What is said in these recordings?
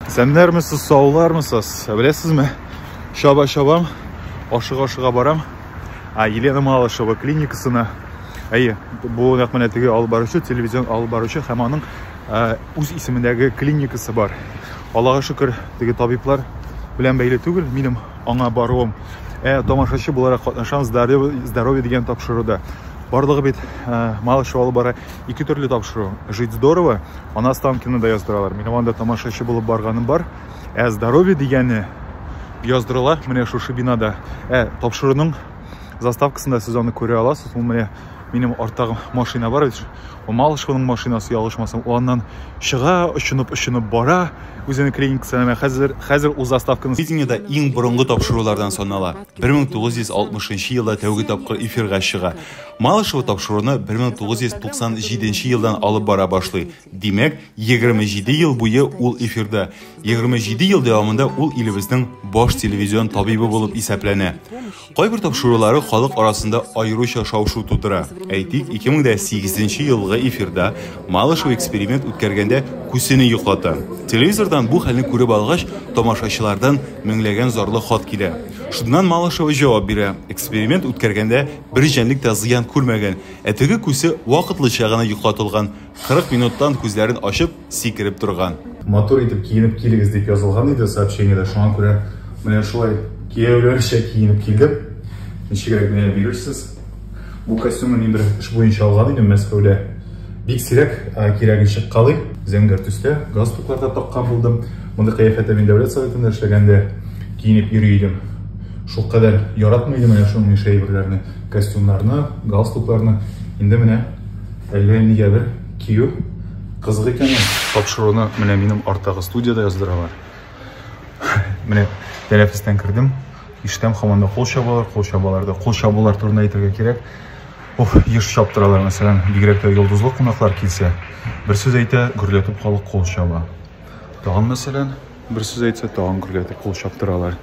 Сәннәрмесез, саулармысыз? Ә беләсезме, чаба-чабам, ашыга-ашыга барам. А Елена Малышева клиникасына, әйе, бу нәкъ менә теге алып баручы, телевизион алып баручы һәм аның үз исемендәге клиникасы бар. Аллага шөкер, теге табиблар белән бәйле түгел, минем аңа баруым. Ә тамашачы буларак катнашам здоровье, здоровье дигән тапшыруда. Барлыгы бит Малышева алып бара. Ике төрле тапшыру. Жить здорово, ана Станкина да яздыралар. Минем анда тамашачы булып барганым бар. Ә здоровье дигәне яздырыла менә шушы бинада. Ә тапшыруның заставкасында сез аны күрә аласыз. Ул менә минем арттагы машина бар бит. Ул Малышевның машинасы ялгышмасам, ул аннан чыга, очынып, очынып бара. Үзенең клиникасына менә хәзер хәзер ул заставканы видениедә иң борынгы тапшырулардан санала. 1960 елда тәүге тапкыр эфирга чыга. Малышева тапшыруны 1997 елдан алып бара башлый. Димәк, 27 ел буе ул эфирда. 27 ел дәвамында ул илебезнең баш телевизион табибы булып исәпләнә. Кайбер тапшырулары халык арасында аеруча шау-шу тудыра. Әйтик, 2008 елгы эфирда Малышева эксперимент үткәргәндә күсене йоклата. Телевизордан бу хәлне күреп алгач, тамашачылардан Меңләгән зарлы хат килә. Шуннан Малышева җавап бирә, эксперимент үткәргәндә бер җәнлек тә зыян күрмәгән, ә теге күсе вакытлыча гына йоклатылган, 40 минуттан күзләрен ачып, сикереп торган. Матур итеп киенеп килегез, дип язылган иде сообщениедә, шуңа күрә менә шулай кияүләрчә киенеп килдем. Ничегрәк генә бирерсез? Бу костюмны мин бер эш буенча алган идем Мәскәүдә. Бик сирәк кирәген чыккалый. Зәңгәр төстә галстукларда таккан булдым. Мондый кыяфәттә мин дәүләт советында эшләгәндә киенеп йөри идем. Шул кадәр яратмый идем менә шуның ише әйберләрне, костюмнарны, галстукларны. Инде менә әллә нигәдер кию кызык икән. Тапшыруны менә минем арттагы студиядә яздыралар. Менә тәнәфестән кердем. Иштәм хаман да кул чабалар, кул чабалар да. Кул чабулар турында әйтергә кирәк. Оф, еш чаптыралар, мәсәлән, бигрәк тә йолдызлы кунаклар килсә. Бер сүз әйтә, гөрләтеп халык кул чаба. Тагын мәсәлән, бер сүз әйтсә, тагын гөрләтеп кул чаптыралар.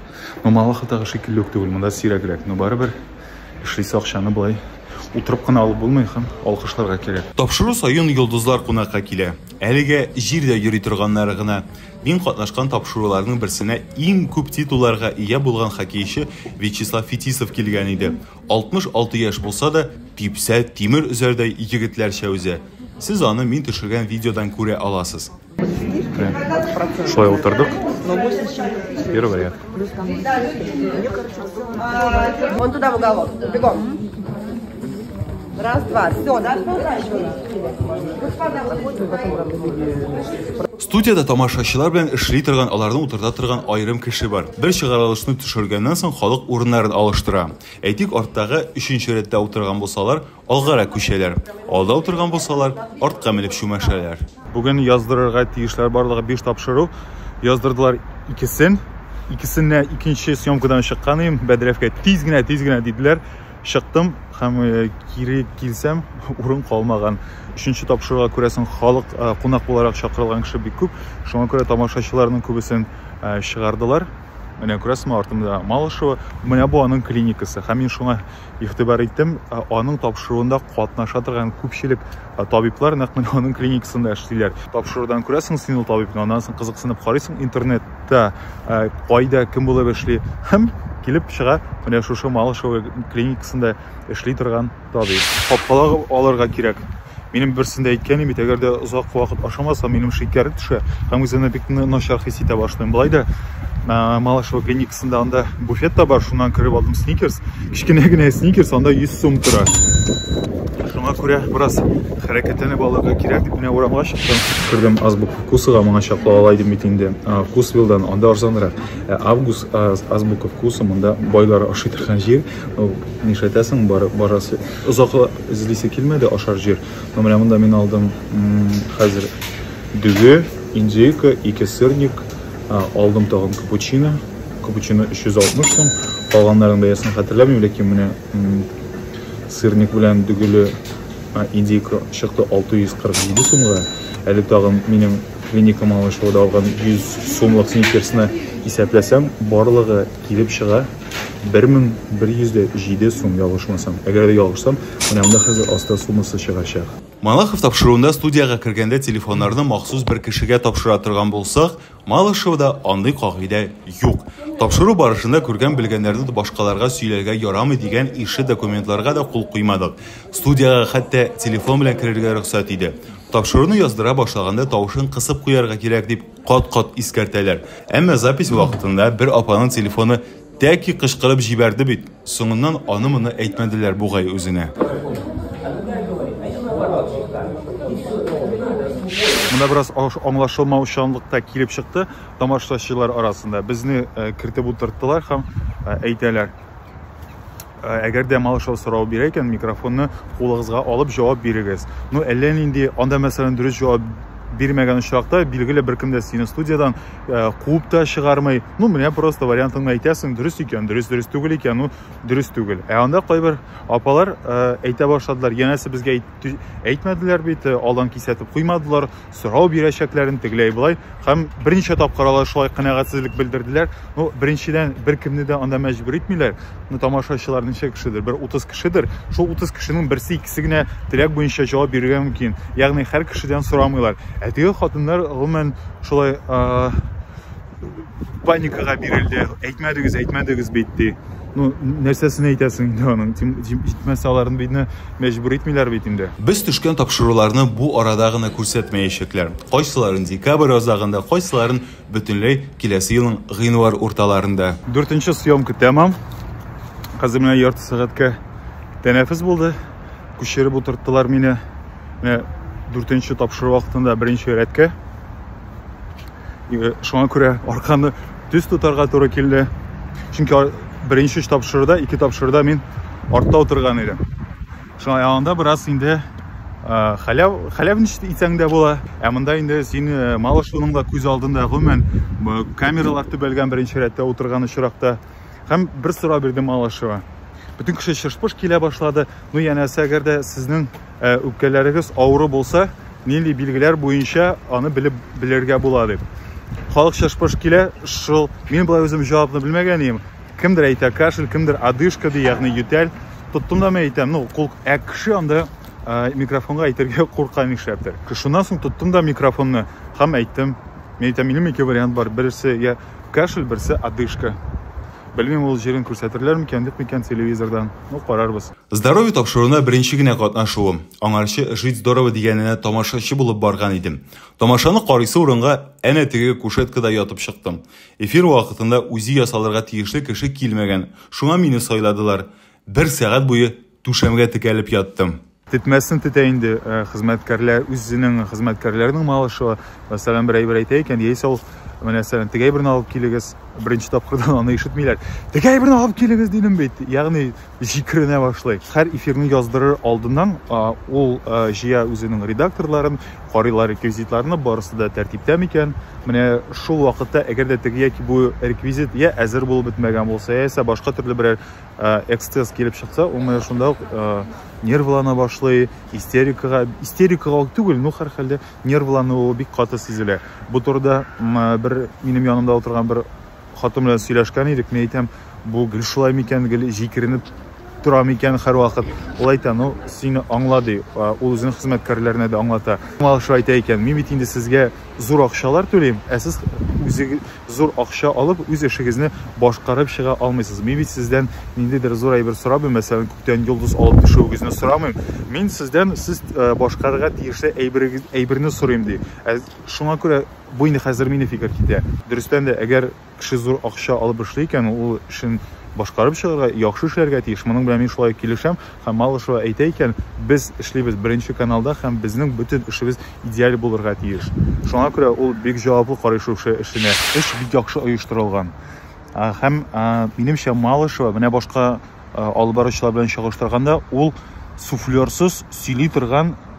Ну, Малахатагы шикелле үк түгел, монда сирәгрәк, но барыбер эшлисе акчаны болай утырып кына алып булмый һәм алкышларга кирәк. Тапшыру саен йолдызлар кунакка килә. Әлегә җирдә йөри торганнары гына. Мин катнашкан тапшыруларның берсенә иң күп титулларга ия булган хоккейчы Вячеслав Фетисов килгән иде. 66 яшь булса да, типсә, тимер өзәрдәй егетләрчә өзә. Сез аны мин төшергән видеодан күрә аласыз. Шулай утырдык. Первый ряд. Вон туда в уголок. Бегом. Раз, два. Все, да? Господа, Студиядә тамашачылар белән эшли торган, аларны утырта торган аерым кеше бар. Бер чыгарылышны төшергәннән соң халык урыннарын алыштыра. Әйтик, арттагы, өченче рәттә утырган булсалар, алгарак күчәләр. Алда утырган булсалар, артка менеп чүмәшәләр. Бүген яздырырга тиешләр барлыгы биш тапшыру. Яздырдылар икесен. Икесенә икенче съемкадан чыккан идем. Бәдрәфкә тиз генә, тиз генә диделәр. чыктым һәм э, кире килсәм урын калмаган өченче тапшыруга күрәсең халык э, кунак буларак чакырылган кеше бик күп шуңа күрә тамашачыларның күбесен э, чыгардылар менә күрәсеңме артымда малышева менә бу аның клиникасы һәм мин шуңа игътибар иттем аның тапшыруында катнаша торган күпчелек табиблар нәкъ менә аның клиникасында эшлиләр тапшырудан күрәсең син ул табибны аннан соң кызыксынып карыйсың интернет та э, кайда кем булып эшли һәм килеп чыга менә шушы малышево клиникасында эшли торган табиб капкалар алырга кирәк минем берсендә әйткән бит әгәр дә озак вакыт ашамаса минем шикәр төшә һәм үземне бик начар хис итә башлыйм болай да э, малышево клиникасында анда буфет та бар шуннан кереп алдым сникерс кечкенә генә сникерс анда 100 сум тора шуңа күрә бераз Хәрәкәтләнеп алырга кирәк дип менә урамга чыктым. Күрдем, азбука кусыга моңа чаклы алайдым бит инде. Кусвилдан анда арзанрак. Ә август азбука вкуса монда байлар ашый торган җир. Нишләтәсең, бар, барасы озак эзлисе килмәде ашар җир. Но менә монда мин алдым хәзер дөге, индейка, ике сырник, алдым тагын капучино. Капучино 360 сум. Калганнарның бәясен хәтерләмим, ләкин менә Сырник белән дөгеле индейка чыкты 647 сумга. Әле тагын минем клиникам алышуда алган 100 сумлык сникерсны исәпләсәм, барлыгы килеп чыга 1107 сум ялгышмасам. Әгәр дә ялгышсам, менә монда хәзер аста суммасы чыгачак. Малахов тапшыруында студиягә кергәндә телефоннарны махсус бер кешегә тапшыра торган булсак, Малышевода андый кагыйдә юк. Тапшыру барышында күргән-белгәннәрне башкаларга сөйләргә ярамый дигән ише документларга да кул куймадык. Студиягә хәтта телефон белән керергә рөхсәт иде. Тапшыруны яздыра башлаганда тавышын кысып куярга кирәк, дип кат-кат искәртәләр. Әмма запись вакытында бер апаның телефоны Тәки кычкырып җибәрде бит, соңыннан аны-моны әйтмәделәр бугай үзенә. Монда бераз аңлашылмаучанлык та килеп чыкты тамашачылар арасында. Безне кертеп утырттылар һәм әйтәләр. Э, әгәр дә малышева сорау бирә икән микрофонны кулыгызга алып җавап бирегез ну әллә нинди анда мәсәлән дөрес җавап бирмәгән очракта билгеле беркем дә сине студиядан э, куып та чыгармый ну менә просто вариантыңны әйтәсең дөрес икән дөрес дөрес түгел икән ну дөрес түгел ә анда кайбер апалар э, әйтә башладылар янәсе безгә әйтмәделәр бит алдан кисәтеп куймадылар сорау бирәчәкләрен тегеләй-болай һәм берничә тапкыр алар шулай канәгатьсезлек белдерделәр. Ну, беренчедән, беркемне дә анда мәҗбүр итмиләр. Ну, тамашачылар ничә кешедер? Бер 30 кешедер. Шул 30 кешенең берсе икесе генә теләк буенча җавап бирергә мөмкин. Ягъни һәр кешедән сорамыйлар. Ә теге хатыннар гомумән шулай паникага бирелде әйтмәдегез әйтмәдегез бит ди ну нәрсәсен әйтәсең инде аның җитмәсә аларны битне мәҗбүр итмиләр бит инде без төшкән тапшыруларны бу арада гына күрсәтмәячәкләр кайсыларын декабрь азагында кайсыларын бөтенләй киләсе елның гыйнвар урталарында дүртенче съемка тәмам хәзер менә ярты сәгатькә тәнәфес булды күчереп утырттылар мине менә дүртенче тапшыру вакытында беренче рәткә шуңа күрә арканы төз тотарга туры килде чөнки беренче тапшыруда ике тапшыруда мин артта утырган идем шуңа анда бераз инде хәләв хәләв ничек итсәң дә була ә монда инде син малышуның да күз алдында гомумән камералар төбәлгән беренче рәттә утырган очракта һәм бер сорау бирде малышева бөтен кеше шыш-пыш килә башлады ну янәсе әгәр дә сезнең Ә үпкәләрегез авыру булса, нинди билгеләр буенча аны белеп белергә була дип. Халык чышпыш килә, шул мин болай үзем җавапны белмәгән идем. Кемдер әйтә кашель, кемдер одышка ди, ягъни ютәл. Тоттым да мен әйтәм, ну, кул, ә кеше анда ә, микрофонга әйтергә курка нишләптер. Шуннан соң тоттым да микрофонны һәм әйттем. Мин әйтәм, минем ике вариант бар. Берсе я кашель, берсе одышка. Белмим, ул җирен күрсәтерләр микән, юк микән телевизордан. Ну, карарбыз. Здоровье тапшыруына беренче генә катнашуым. Аңарчы Жить здорово дигәненә тамашачы булып барган идем. Тамашаны карыйсы урынга әнә теге кушеткада ятып чыктым. Эфир вакытында үзе ясалырга тиешле кеше килмәгән, шуңа мине сайладылар. Бер сәгать буе түшәмгә текәлеп яттым. Тетмәсен тетә инде э, хезмәткәрләр, үзенең хезмәткәрләренең малышева. Мәсәлән, бер әйбер әйтә икән, яисә ул мәсәлән, теге әйберне алып килегез, беренче тапкырдан аны ишетмиләр. Теге әйберне алып килегез дидем бит. Ягъни, җикеренә башлый. Һәр эфирны яздырыр алдыннан ул җыя үзенең редакторларын, карыйлар реквизитларны, барысы да тәртиптә микән. Менә шул вакытта, әгәр дә теге яки бу реквизит я әзер булып бетмәгән булса, яисә башка төрле берәр эксцесс килеп чыкса, ул менә шунда ук нервлана башлый, истерикага, истерикага түгел, ну һәрхәлдә нервлануы бик каты сизелә. Бу турыда бер минем янымда утырган бер Хатын белән сөйләшкән идек, мин әйтәм, бу гел шулай микән, гел җикеренеп тора микән һәрвакыт. Ул әйтә, ну, сине аңла ди, ул үзенең хезмәткәрләренә дә аңлата. Малыш әйтә икән, мин бит инде сезгә зур акчалар түлим, ә сез үзе зур акча алып, үз эшегезне башкарып чыга алмыйсыз. Мин бит сездән ниндидер зур әйбер сорабым, мәсәлән, күктән йолдыз алып төшүегезне сорамыйм. Мин сездән сез башкарырга тиешле әйберегез, әйберне сорыйм ди. Ә шуңа күрә Бу инде хәзер мине фикер китә. Дөрестән дә, әгәр кеше зур акча алып эшли икән, ул эшен башкарып чыгарга, яхшы эшләргә тиеш. Моның белән мин шулай ук килешәм. Һәм Малышева әйтә икән, без эшлибез Беренче каналда һәм безнең бөтен эшебез идеаль булырга тиеш. Шуңа күрә ул бик җаваплы карый шушы эшенә. Эш бик яхшы оештырылган. Һәм, минемчә, Малышева, менә башка алып баручылар белән чагыштырганда, ул суфлерсыз сөйли торган.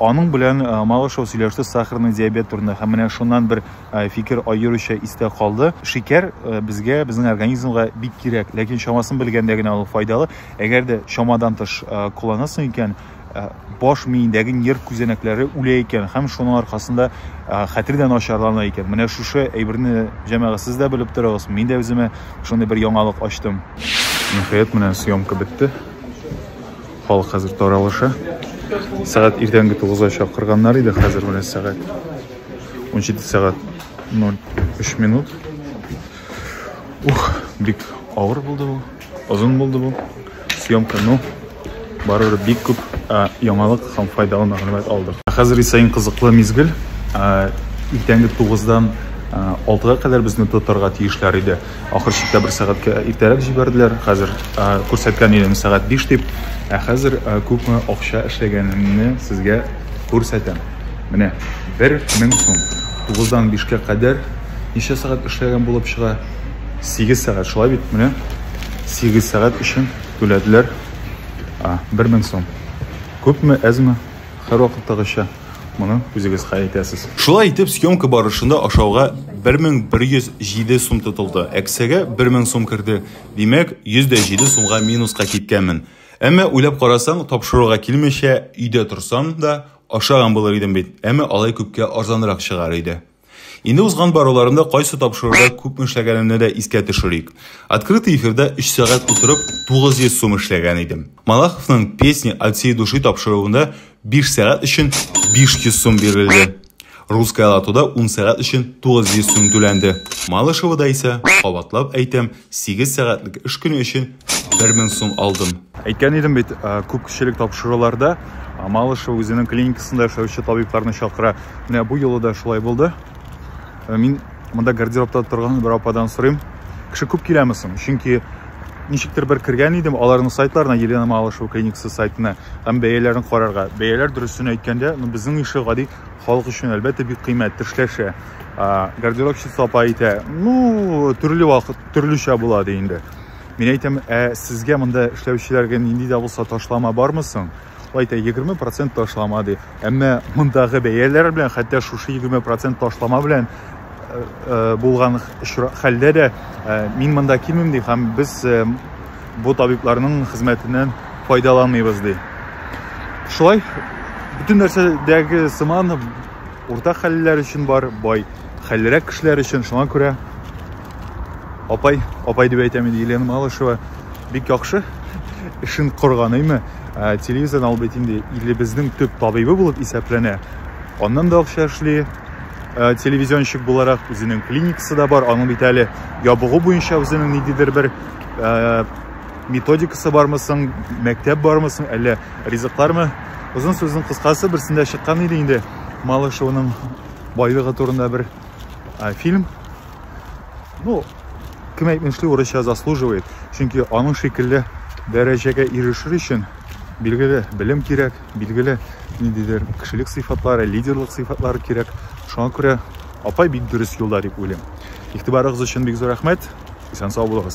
аның белән э, малышев сөйләште сахарный диабет турында һәм менә шуннан бер э, фикер аеруча истә калды шикәр э, безгә безнең организмга бик кирәк ләкин чамасын белгәндә генә ул файдалы әгәр дә чамадан тыш кулланасың икән Э, баш миендәге нерв күзәнәкләре үлә икән һәм шуның аркасында э, хәтер дә начарлана икән менә шушы әйберне җәмәгать сез дә белеп торыгыз мин дә үземә шундый бер яңалык ачтым ниһаять менә съемка бетте халык хәзер таралыша сәгать иртәнге тугызга чакырганнар иде хәзер менә сәгать он җиде сәгать ноль өч минут ух бик авыр булды бу Озын булды бу. Съемка, ну, барыбер бик күп яңалык һәм файдалы мәгълүмат алдык. Хәзер исә иң кызыклы мизгел. Иртәнге 9-дан 6-га кадәр безне тотарга тиешләр иде. Ахыр чиктә бер сәгатькә иртәрәк җибәрделәр. Хәзер күрсәткән идем сәгать 5 дип. Ә хәзер күпме акча эшләгәнемне сезгә күрсәтәм. Менә 1000 сум. 9-дан 5-кә кадәр ничә сәгать эшләгән булып чыга? 8 сәгать шулай бит, менә 8 сәгать өчен түләделәр. А, 1000 сум. Күпме, әзме? Хәр вакыттагыча моны үзегез хәл итәсез. Шулай итеп, съемка барышында ашауга 1107 сум тотылды. Әксәгә 1000 сум керде. Димәк, 107 сумга минуска киткәнмен. Әмма уйлап карасаң, тапшыруга килмичә, өйдә торсам да, ашаган булыр идем бит. Әмма алай күпкә арзанрак чыгар иде. Инде узган баруларымда кайсы тапшыруда күпме эшләгәнемне дә искә төшерик. Открытый эфирда 3 сәгать утырып 900 сум эшләгән идем. Малаховның песни от всей души тапшыруында 5 сәгать өчен 500 сум бирелде. Русская латуда 10 сәгать өчен 900 сум түләнде. Малышевода исә, кабатлап әйтәм, Сигез сәгатьлек эш көне өчен бер мең сум алдым. Әйткән идем бит, э, күп кешелек тапшыруларда э, Малышева үзенең клиникасында эшләүче табибларны чакыра. Менә бу юлы да шулай булды. Э, мин монда гардеробта торган бер ападан сорыйм, кеше күп киләме соң? Чөнки ничектер бер кергән идем аларның сайтларына елена малышева клиникасы сайтына һәм бәяләрен карарга бәяләр дөресен әйткәндә ну безнең ише гади халык өчен әлбәттә бик кыйммәт тешләшә гардеробщица апа әйтә ну төрле вакыт төрлечә була ди инде мин әйтәм ә сезгә монда эшләүчеләргә нинди дә булса ташлама бармы соң ул әйтә егерме процент ташлама ди әмма мондагы бәяләр белән хәтта шушы егерме процент ташлама белән э, э, булган хәлдә дә э, мин монда килмим ди һәм без бу табибларның хезмәтеннән файдаланмыйбыз ди. Шулай бөтен нәрсәдәге сыман урта хәллеләр өчен бар, бай хәллерәк кешеләр өчен. Шуңа күрә апай, апай дип әйтәм инде Елена Малышева бик яхшы эшен корганыймы, ә, телевизордан ул бит инде илебезнең төп табибы булып исәпләнә. Аннан да акча эшли, ә, телевизионщик буларак үзенең клиникасы да бар, аның бит әле ябыгу буенча үзенең ниндидер бер ә, методикасы бармы соң мәктәп бармы соң әллә ризыклармы озын сүзнең кыскасы берсендә чыккан иде инде малышеваның байлыгы турында бер ә, фильм ну кем әйтмешли урысча заслуживает чөнки аның шикелле дәрәҗәгә ирешер өчен билгеле белем кирәк билгеле ниндидер кешелек сыйфатлары лидерлык сыйфатлары кирәк шуңа күрә апай бик дөрес юлда дип уйлыйм игътибарыгыз өчен бик зур рәхмәт исән сау булыгыз